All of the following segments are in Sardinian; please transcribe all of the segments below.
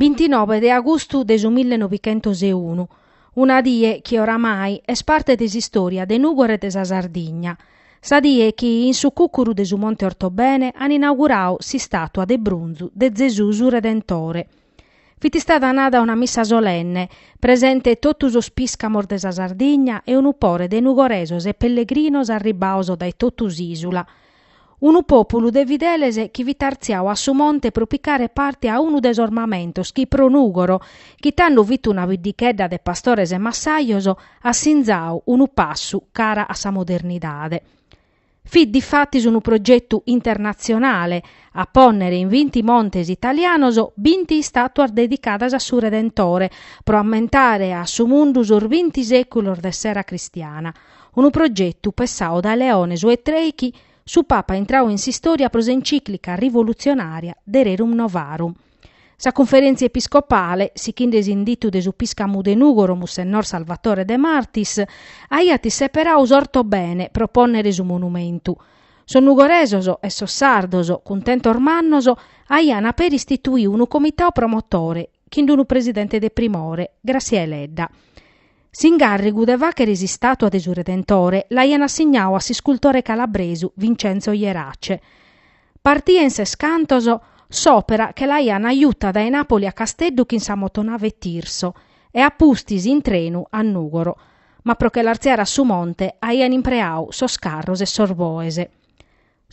Bintinobhe de agustu de su mille novighentos e unu, una die chi oramai est parte de s'istòria de Nùgoro e de sa Sardigna, sa die chi in su cùcuru de su Monte Ortobene ant inaugurau s'istàtua de brunzu de Zesù su Redentore. Fit istada nada una missa solenne, presente totu sos pìscamos de sa Sardigna e unu pore de nugoresos e pellegrinos arribbados dae totu s'ìsula, Unu pòpulu de fideles chi fit artziau a su monte pro picare parte a unu de sos mamentos chi pro Nùgoro, chi tando fit una biddichedda de pastores e massajos, at sinzau unu passu cara a sa modernidade. Fit difatis unu progetu internatzionale a pònnere in vinti montes italianos binti istàtuas dedicadas a su Redentore pro ammentare a su mundu sos binti sèculos de s'era cristiana. unu progetu pessau dae Leone su 'e trèichi, su Papa intrau in s'istòria pro s'encìclica rivolutzionària de Rerum Novarum. Sa Cunferèntzia Episcopale, sichinde s'inditu de su piscamu de Nùgoro Mussennor Salvatore De Martis, aiat seperau s'Ortobene pro pònnere su monumentu. Sos nugoresos e sos sardos, cuntentos mannos, aian peri istituiu unu comitau promotore, chin d-unu presidente de primore, Gràssia Deledda. S'ingàrrigu de fàchere s'istàtua de su Redentore l'aian assignau a s'iscultore calabresu Vincenzo Jerace. Partia in ses cantos s'òpera che l'aian juta dae Nàpoli a Casteddu chin sa motonave Tirso e a pustis in trenu a Nùgoro, ma pro che l'artziare a su monte aian impreau sos carros e sos boes.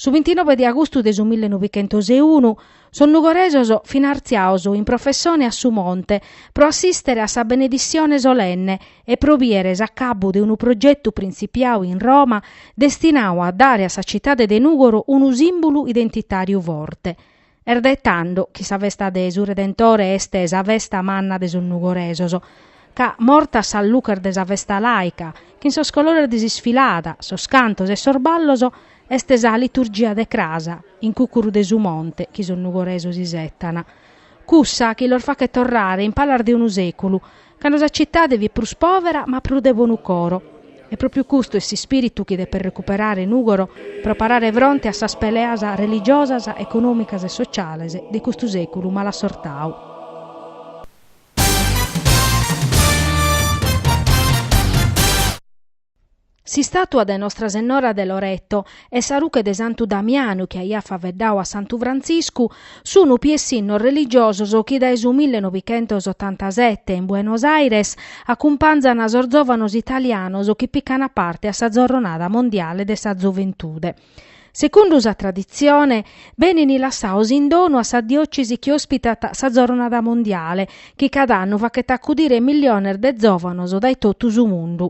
Su bintinove de agustu de su mille novichentos e unu sos nugoresos fin artziaos in professione a su monte pro assìstere a sa benedissione solenne e pro bìere s'acabbu de unu progetu printzipiau in Roma destinau a dare a sa citade de Nùgoro unu sìmbulu identitàriu forte. Est dae tando chi sa festa de su Redentore est sa festa manna de sos nugoresos, ca, mortas sas luches de sa festa laica, chin sos colores de s'isfilada, sos cantos e sos ballos, est sa liturgia de cras, in cucuru de su monte, chi sos nugoresos isetan. Cussa chi los fachet torrare in palas de unu seculu, Cando sa citade fit prus pòvera ma prus de bonu coro. E pròpriu custu est s'ispìritu chi depet recuperare Nùgoro pro parare fronte a sas peleas religiosas, econòmicas e sociales de custu sèculu malassortadu. S'istàtua de Nostra Sennora de Loreto e sa ruche de Santu Damianu chi aiat faveddau a Santu Frantziscu sun piessinnos religiosos chi dae su mille novichentos otantasete in Buenos Aires acumpanzan sos zòvanos italianos chi pican parte a sa Zorronada Mondiale de sa Zoventude. Secundu sa traditzione, benin lassaos in donu a sa diòcesi chi òspitat sa Zornada Mondiale, chi cada annu fachet acudire milliones de zòvanos dae totu su mundu.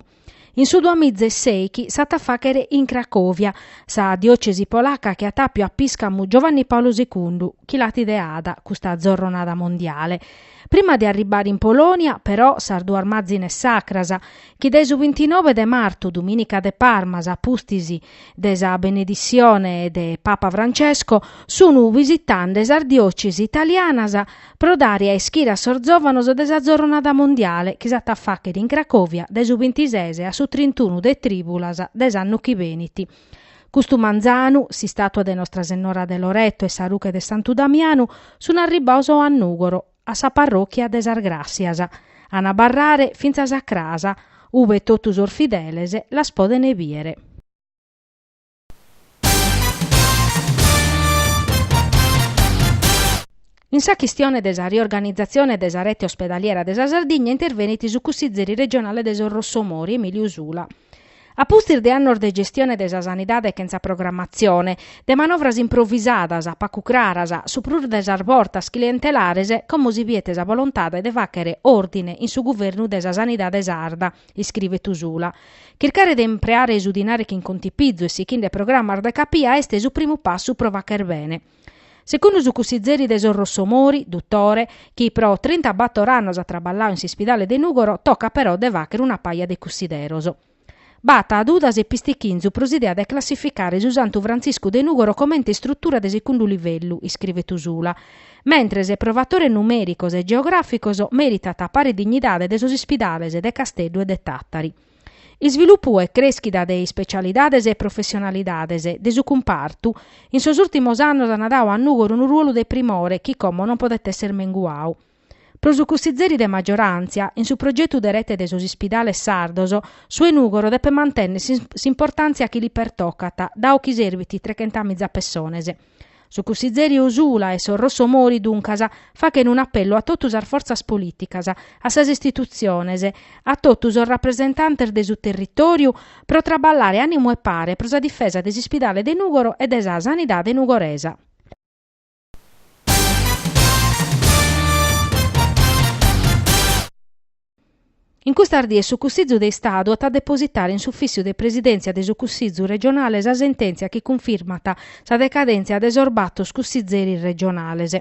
In su duamizeseichi s'at a fàchere in Cracòvia, sa diòcesi polaca chi at àppiu a piscamu Giovanni Paolo segundu, chi l'at ideada custa Zornada Mondiale. Prima de arribare in Polonia, però, sas duas mazines sacras, chi dae su bintinobe de martu, dumìnica de Parmas, a pustis de sa beneditzione de Papa Francesco sun visitande sas diòcesi italianas pro dare a ischire a sos zòvanos de sa Zorronada Mondiale chi s'at a fàchere in Cracovia dae su bintises a su trintunu de trìbulas de s'annu chi benit. Custu manzanu, s'istàtua de Nostra Sennora de Loreto e sa ruche de Santu Damianu sun arribaos a Nùgoro, a sa parròchia de sas Gràssias, an a abarrare fintzas a cras ube totu sos fideles las podene bìere. In sa chistione de sa riorganizatzione de sa rete ospedaliera de sa Sardigna intervenit su cussizeri regionale de sos Rossomori, Emiliu Usula. A pustis de annos de gestione de sa sanidade chene programmatzione, de manovras improvisadas, pacu craras, su prus de sas bortas clientelares, como si biet sa volontade de fàchere òrdine in su guvernu de sa sanidade sarda, iscrivet Usula. Chircare de impreare su dinari chin contipizu e sichende programas de capia est su primu passu pro fàchere bene. Secundu su cussizeri de sos Rossomori, duttore chi pro trintabator annos at traballau in s'ispidale de Nùgoro, tocat però de fàchere una paja de cussideros. B'at dudas e pistichinzu pro s'idea de classificare su Santu Frantziscu de Nùgoro comente istrutura de secundu livellu, iscrivet Usula, mentres pro fatores numèricos e geogràficos mèritat pare dignidade de sos ispidales de Casteddu e de Tàtari. Isvilupu e crèschida de ispecialidades e professionalidades de su cumpartu, in sos ùrtimos annos an dau a Nùgoro unu ruolu de primore chi como non podet èssere menguau. Pro su cussizeri de magioràntzia, in su progetu de rete de sos ispidales sardos, su 'e Nùgoro depet mantènnere s'importàntzia chi li pertocat, dau chi serbit trechentamìza pessones. Su cussizeri Usula e sos Rossomori, duncas, fachen un'apellu a totu sas fortzas polìticas, a sas istitutziones, a totu sos rapresentantes de su territòriu pro traballare ànimu e pare pro sa difesa de s'ispidale de Nùgoro e de sa sanidade nugoresa. In custas dies su Cussizu de Istadu at a depositare in s'ufìssiu de presidèntzia de su Cussizu regionale sa sentèntzia chi cunfirmat sa decadèntzia de sos batos cussizeris regionales.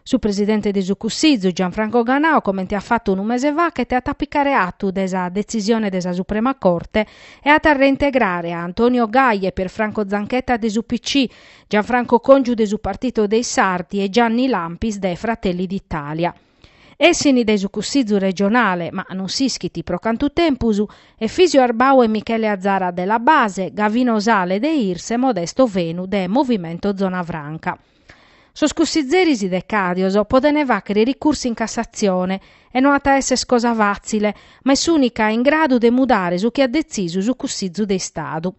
Su presidente de su Cussizu, Gianfranco Ganau, comente at fatu unu mese faghet, at a picare atu de sa detzisione de sa Suprema Corte e at a reintegrare a Antonio Gaia e Pierfranco Zanchetta de s'UPC, Gianfranco Congiu de su Partito dei Sardi e Gianni Lampis de Fratelli d'Italia. Essini de su Cussizu regionale, ma non s'ischit pro cantu tempus, Efisio Arbau e Michele Azara de La Base, Gavino Sale de Irs e Modesto Fenu de Movimento Zona Franca. Sos cussizeris decàdios podent fàghere ricursu in Cassatzione e no at a èssere cosa fàtzile, ma est s'ùnica in gradu de mudare su chi at detzisu su Cussizu de Istadu.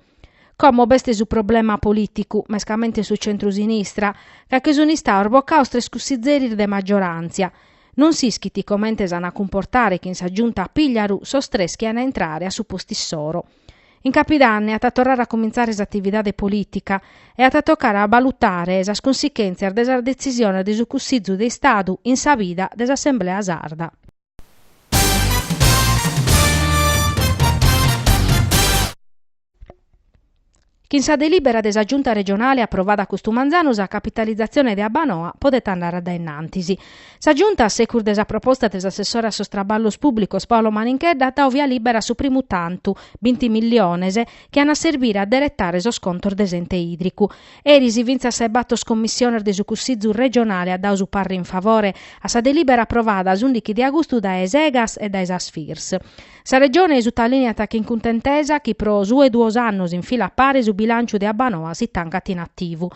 Como b'est su problema polìticu, mescamente in su centru-sinistra, ca che sunt istados bocados tres cussizeris de maggioràntzia, non s'ischit comente s'ant a cumportare chin sa Giunta Pigliaru sos tres chi ant a intrare a su postu issoro. In Capidanne at a torrare a comintzare s'atividade polìtica e at a tocare a balutare sas cunsichèntzias de sa detzisione de su Cussizu de Istadu in sa vida de s'Assemblea sarda. Chin sa delibera de sa Giunta Regionale aprovada custu manzanu sa capitalizatzione de Abbanoa podet andare a dae innantis. Sa Giunta, a secus de sa proposta de s'assessore a sos Traballos Pùblicos Paolo Maninchedda at dadu via libera a su primu tantu, binti milliones, chi an a serbire a deretare sos contos de s'ente ìdricu. Eris fintzas sa 'e batos commissiones de su Cussizu regionale at dadu su parre in favore a sa delibera aprovada s'ùndighi de agustu dae s'Egas e dae sa Sfirs. Sa Regione sutalìniat chin cuntentesa chi pro su 'e duos annos in fila a pare su bilànciu de Abbanoa si tancat in ativu.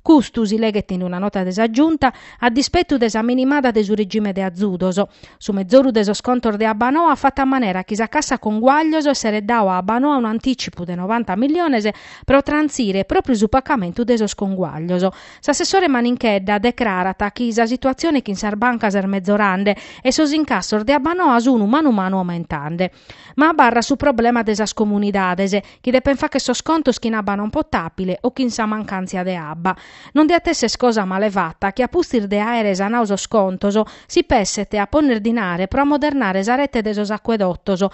Custu, si leghet in una nota de sa Giunta, a dispetu de sa minimada de su regime de azudos. Su mezoru de sos contos de Abbanoa at fatu a manera chi sa Cassa Conguaglios esseret dadu a Abbanoa un'antìcipu de novanta milliones pro trantzire pròpriu su pacamentu de sos conguaglios. S'assessore Maninchedda decrarat chi sa situatzione chin sas bancas est mezorande e sos incassos de Abbanoa sun manu manu aumentande. Ma abarrat su problema de sas comunidades, chi depen fagher sos contos chin abba non potàbile o chin sa mancàntzia de abba. Non diat èssere cosa male fata chi a pustis de àere sanadu sos contos si pesset a ponner dinare pro amodernare sa rete de sos acuedotos,